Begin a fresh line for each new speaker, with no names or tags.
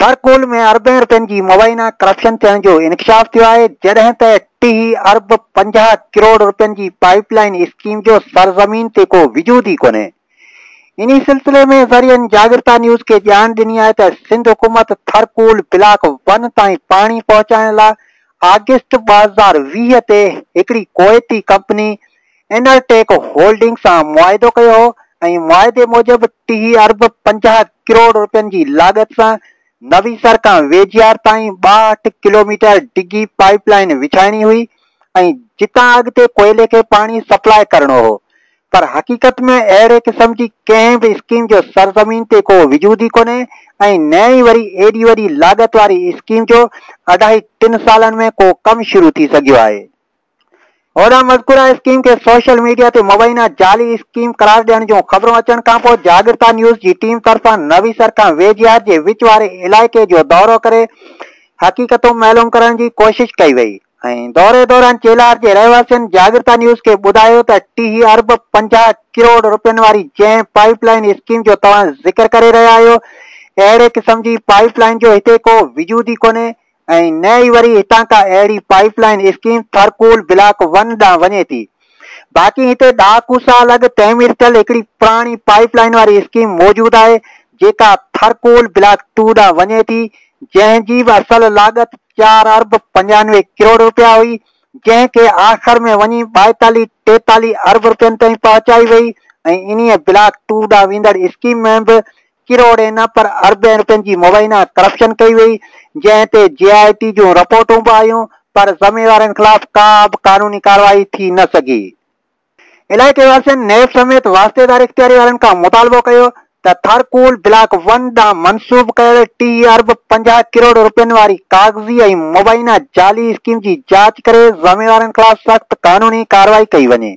Thar coal ۾ اربين رپين جي مبينا ڪرپشن ٿيڻ جو انڪشاف ٿيو آهي جڏهن ته ٽيهه ارب پنجاهه ڪروڙ رپين جي پائيپ لائين اسڪيم جو سرزمين تي ڪو وجود ئي ڪونهي انهي سلسلي ۾ ذريعن جاڳرتا نيوز کي ڄاڻ ڏني آهي ته سنڌ حڪومت ٿرڪول بلاڪ ون تائين پاڻي پهچائڻ لاء آگسٽ ٻه هزار ويهه تي هڪڙي ڪويتي ڪمپني انرٽيڪ هولڊنگ سان معاهدو ڪيو هو ۽ معاهدي موجب ٽيهه ارب پنجاهه ڪروڙ روپين جي لاڳت سان نويسر کان ويجهيار تائين ٻاهٺ ڪلوميٽر ڊگهي پائيپ لائين وڇائڻي هئي ۽ جتان اڳتي ڪوئلي کي پاڻي سپلاء ڪرڻو هو پر حقيقت ۾ اهڙي قسم جي ڪنهن به اسڪيم جو سرزمين تي ڪو وجود ئي ڪونهي ۽ نه ئي وري ايڏي وڏي لاڳت واري اسڪيم جو اڍائي ٽن سالن ۾ ڪو ڪم شروع ٿي سگهيو آهي. هوڏانهن مذڪوره اسڪيم کي سوشل ميڊيا تي مبينا جعلي اسڪيم قرار ڏيڻ جون خبرون اچڻ کانپوء جاڳرتا نيوز جي ٽيم طرفان نويسر کان ويجهار جي وچ واري علائقي جو دورو ڪري حقيقتون معلوم ڪرڻ جي ڪوشش ڪئي وئي. ۽ دوري دوران چيلار جي رهواسين جاڳرتا نيوز کي ٻڌايو ته ٽيهه ارب پنجاهه ڪروڙ رپين واري جنهن پائيپ لائين اسڪيم جو توهان ذڪر ڪري رهيا آهيو اهڙي قسم جي پائيپ لائين جو هتي ڪو وجود ئي ڪونهي ۽ نه ئي وري هتان ڪا اهڙي pipeline scheme Thar coal block one ڏانهن وڃي ٿي باقي هتي ڏهاڪو سال اڳ تعمير ٿيل هڪڙي پراڻي پائيپ لائين واري اسڪيم موجود آهي جيڪا ٿرڪول بلاڪ ٽو ڏانهن وڃي ٿي جنهن جي به اصل لاڳت چار ارب پنجانوي ڪروڙ رپيا هئي، جنهن کي آخر ۾ وڃي ٻائيتاليهه ٽيتاليهه ارب رپين تائين پهچائي وئي ۽ انهيء بلاڪ ٽو ڏانهن ويندڙ اسڪيم ۾ به ڪروڙين نه پر اربين رپين جي مبينا ڪرپشن ڪئي وئي، جنهن تي جي آء ٽي جون رپورٽون به آيون پر ذميوارن خلاف ڪا به قانوني ڪارروائي ٿي نه سگهي. علائقي واسين نيب سميت واسطيدار اختياري وارن کان مطالبو ڪيو ته ٿر ڪول بلاڪ ون ڏانهن منسوب ڪيل ٽي ارب پنجاهه ڪروڙ رپين واري ڪاغذي ۽ مبينا جعلي اسڪيم جي جاچ ڪري ذميوارن خلاف سخت قانوني ڪارروائي ڪئي وڃي.